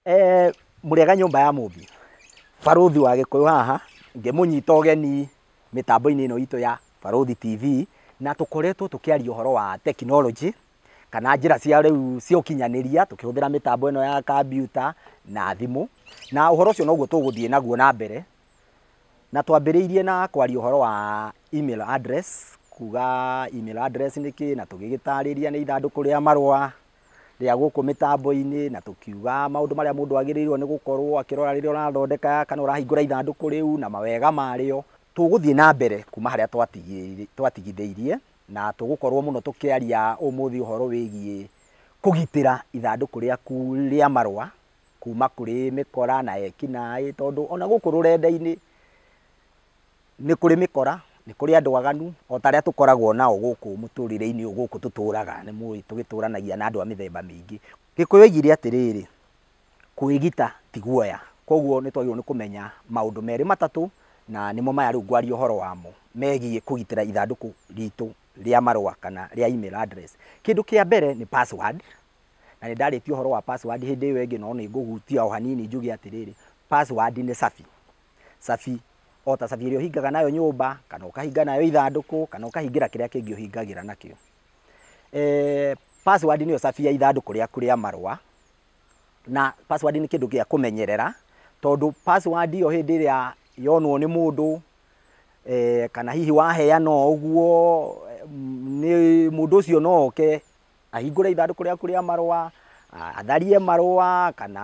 Eh, mũrĩega nyũmba ya mũmbi barũthi wa gĩkũyũ haha ngĩmũnyita ũgeni mĩtambo-inĩ ĩno itũ ya barũthi tv na tũkoretwo tũkĩaria ũhoro wa tekinoronjĩ kana njĩra cia rĩu cia ũkinyanĩria tũkĩhũthĩra mĩtambo ĩno ya kambiuta na thimũ na ũhoro ũcio noguo tũgũthiĩ naguo na mbere. Na twambĩrĩirie na kwaria ũhoro wa email address, kuga email address nĩ kĩĩ, na tũgĩgĩtarĩria nĩ ithandũkũ rĩa marũa rĩa gũkũ mĩtambo-inĩ, na tũkiuga maũndũ marĩa mũndũ agĩrĩirwo nĩ gũkorwo akĩrora rĩrĩa ũrathondeka kana ũrahingũra ithandũkũ rĩu na mawega marĩo. Tũgũthiĩ na mbere kuma harĩa twatigithĩirie, na tũgũkorwo mũno tũkĩaria ũmũthĩ ũhoro wĩgiĩ kũgitĩra ithandũkũ rĩaku rĩa marũa Kuuma kũrĩ mĩkora na ekinaĩ, tondũ ona gũkũ rũrenda-inĩ nĩ kũrĩ mĩkora, nĩ kũrĩ andũ aganu, o ta arĩa tũkoragwo nao gũkũ mũtũrĩre-inĩ ũyũ gũkũ tũtũraga, nĩ mũĩ tũgĩtũranagia na andũ a mĩthemba mĩingĩ. Gĩkũyũ oigire atĩrĩrĩ, Kwĩgita ti guoya. Kwoguo nĩ twagĩrĩirwo nĩ kũmenya maũndũ merĩ matatũ, na nĩmo maya rĩu ngwaria ũhoro wamo, megiĩ kũgitĩra ithandũkũ ritũ rĩa marũa kana rĩa email address. Kĩndũ kĩa mbere nĩ password, Na nĩ ndarĩtie ũhoro wa password hĩndĩ ĩyo ĩngĩ, no nĩ ngũhutia o hanini njuge atĩrĩrĩ, password nĩ cabi. Cabi, o ta cabi ĩrĩa ũhingaga nayo nyũmba, kana ũkahinga nayo ithandũkũ, kana ũkahingĩra kĩrĩa kĩngĩ ũhingagĩra nakĩo. Password nĩyo cabi ya ithandũkũ rĩaku rĩa marũa, na password nĩ kĩndũ gĩa kũmenyerera, tondũ password ĩyo hĩndĩ ĩrĩa yonwo nĩ mũndũ, kana hihi waheana o ũguo, mũndũ ũcio no oke. Ahingũre ithandũkũ rĩaku rĩa marũa, atharie marũa, kana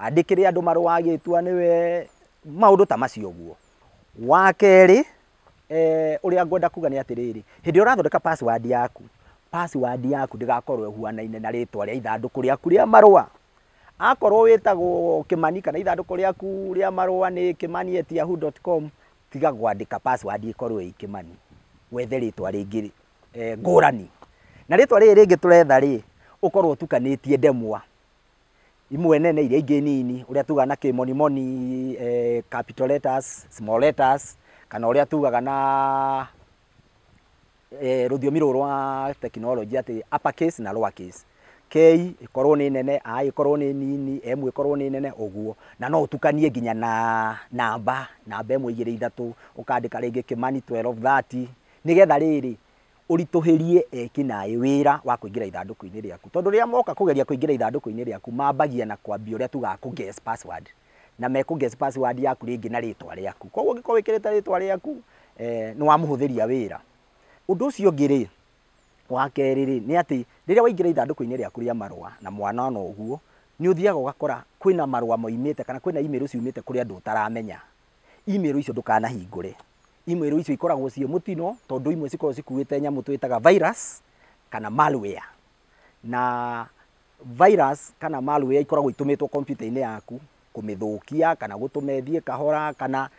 andĩkĩre andũ marũa agĩtua nĩwe, maũndũ ta macio ũguo. Wa kerĩ, ũrĩa ngwenda kuga nĩ atĩrĩrĩ, hĩndĩ ĩrĩa ũrathondeka password yaku, password yaku ndĩgakorwo ĩhuanaine na rĩtwa rĩa ithandũkũ rĩaku rĩa marũa. Akorwo wĩtagwo Kĩmani kana ithandũkũ rĩaku rĩa marũa nĩ kimani@yahoo.com, tiga kwandĩka password ĩkorwo ĩĩ Kĩmani, wethe rĩtwa rĩngĩ. eh, ngũrani na rĩtwa rĩrĩ rĩngĩ tũretha rĩ ũkorwo ũtukanĩtie ndemwa imwe nene iria ingĩ nini ũrĩa tugaga na kĩmonimoni eh, capital letters, small letters kana ũrĩa tugaga na eh, rũthiomi rũrũ rwa tekinoronjĩ atĩ upper case na lower case k ĩkorwo nĩ nene a ĩkorwo nĩ nini m ĩkorwo nĩ nene ũguo na no ũtukanie nginya na namba namba ĩmwe igĩrĩ ithatũ ũkandĩka rĩngĩ kĩmani 1230 Nĩgetha rĩrĩ, ũritũhĩrie eki naĩ wĩra wa kũingĩra ithandũkũ-inĩ rĩaku. Tondũ rĩrĩa moka kũgeria kũingĩra ithandũkũ-inĩ rĩaku, mambagia na kwambia ũrĩa tugaga kũ guess password. Na me kũ guess password yaku rĩngĩ na rĩtwa rĩaku. Kwoguo ũngĩkorwo wĩkĩrĩte rĩtwa rĩaku, nĩ wamũhũthĩria wĩra. Ũndũ ũcio ũngĩ rĩ, wa kerĩ rĩ, nĩ atĩ, rĩrĩa waingĩra ithandũkũ-inĩ rĩaku rĩa marũa, na mwanona ũguo, nĩ ũthiaga ũgakora kwĩna marũa moimĩte kana kwĩna email ciumĩte kũrĩ andũ ũtaramenya. Imĩrũ icio ndũkanahingũre. Imĩrũ icio ikoragwo ciĩ mũtino tondũ imwe cikoragwo cikuĩte nyamũ twĩtaga virus kana malware. Na virus kana malware ikoragwo itũmĩtwo kompiuta-inĩ yaku kũmĩthũkia kana gũtũma ĩthiĩ kahora kana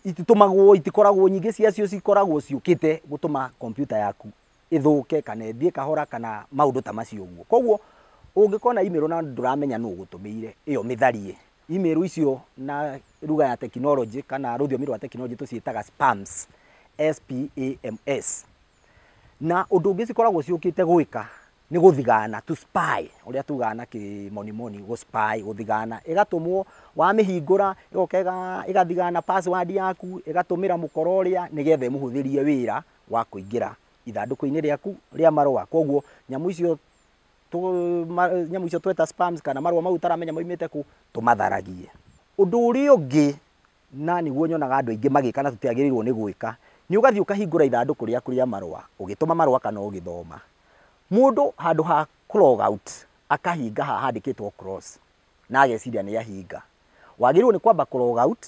ititũmagwo, itikoragwo nyingĩ ciacio cikoragwo ciũkĩte gũtũma kompiuta yaku ĩthũke kana ĩthiĩ kahora kana maũndũ ta macio ũguo. Koguo ũngĩkona imĩrũ na ndũramenya nũ ũgũtũmĩire, ĩyo mĩtharie. Imĩrũ icio na ruga ya tekinoronjĩ kana rũthiomi rwa tekinoronjĩ tũciĩtaga spams, S-P-A-M-S. Na ũndũ ũngĩ cikoragwo ciũkĩte gwĩka nĩ gũthigana, to spy, ũrĩa tugaga na kĩmonimoni gũ spy, gũthigana. Ĩgatũmwo, wamĩhingũra, ĩgoka ĩgathigana password yaku, ĩgatũmĩra mũkora ũrĩa nĩgetha ĩmũhũthĩrie wĩra wa kũingĩra ithandũkũ-inĩ rĩaku rĩa marũa. Koguo nyamũ icio nyamũ icio tweta sperms kana marũa mau ũtaramenya maumĩte kũ, tũmatharagie. Ũndũ ũrĩa ũngĩ na nĩguo nyonaga andũ aingĩ magĩka na tũtiagĩrĩirwo nĩ gwĩka, nĩ ũgathiĩ ũkahingũra ithandũkũ rĩaku rĩa marũa ũgĩtũma marũa kana ũgĩthoma. Mũndũ handũ ha kũ log out akahinga haha handĩkĩtwo cross, na ageciria nĩ ahinga, wagĩrĩirwo nĩ kwamba kũ log out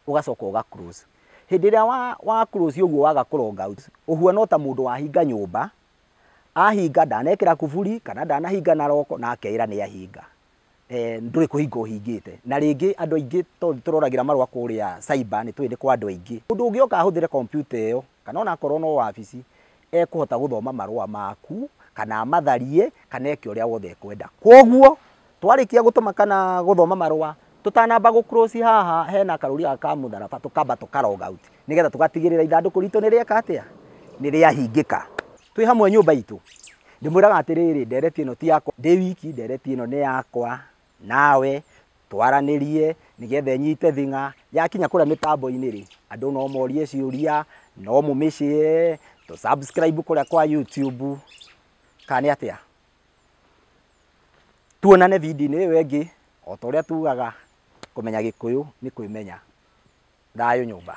ũgacoka ũga close. Hĩndĩ ĩrĩa wa wa close ũguo waga kũ log out, ũhuana o ta mũndũ wahinga nyũmba, ahinga ndanekĩra kuburi kana ndanahinga na lock na akeĩra nĩ ahinga. Ndũrĩ kũhinga ũhingĩte. Na rĩngĩ andũ aingĩ tondũ nĩ tũroragĩra marũa kũrĩa cyber nĩ tũĩ nĩ kwa andũ aingĩ. Mũndũ ũngĩoka ahũthĩre kompiuta ĩyo kana o na akorwo no wabici, ekũhota gũthoma marũa maku kana amatharie kana eke ũrĩa wothe ekwenda. Kwoguo twarĩkia gũtũma kana gũthoma marũa, tũtanamba gũ close haha hena karũri gaka ka mũtharaba tũkamba tũka log out nĩgetha tũgatigĩrĩra ithandũkũ ritũ nĩ rĩeka atĩa? Nĩ rĩahingĩka. Twĩ hamwe nyũmba itũ. Ndĩmwĩraga atĩrĩrĩ, ndereti ĩno ti yakwa ndĩ wiki, ndereti ĩno nĩ yakwa. Nawe twaranĩrie nĩgetha ĩnyite thing'a. Yakinya kũrĩa mĩtambo-inĩ rĩ, andũ no morie ciũria, no mũmĩ share, tũ subscribe kũrĩa kwa YouTube. Kana nĩ atĩa? Tuonane video-inĩ ĩyo ĩngĩ, o ta ũrĩa tugaga kũmenya gĩkũyũ nĩ kwĩmenya. Thayũ nyũmba.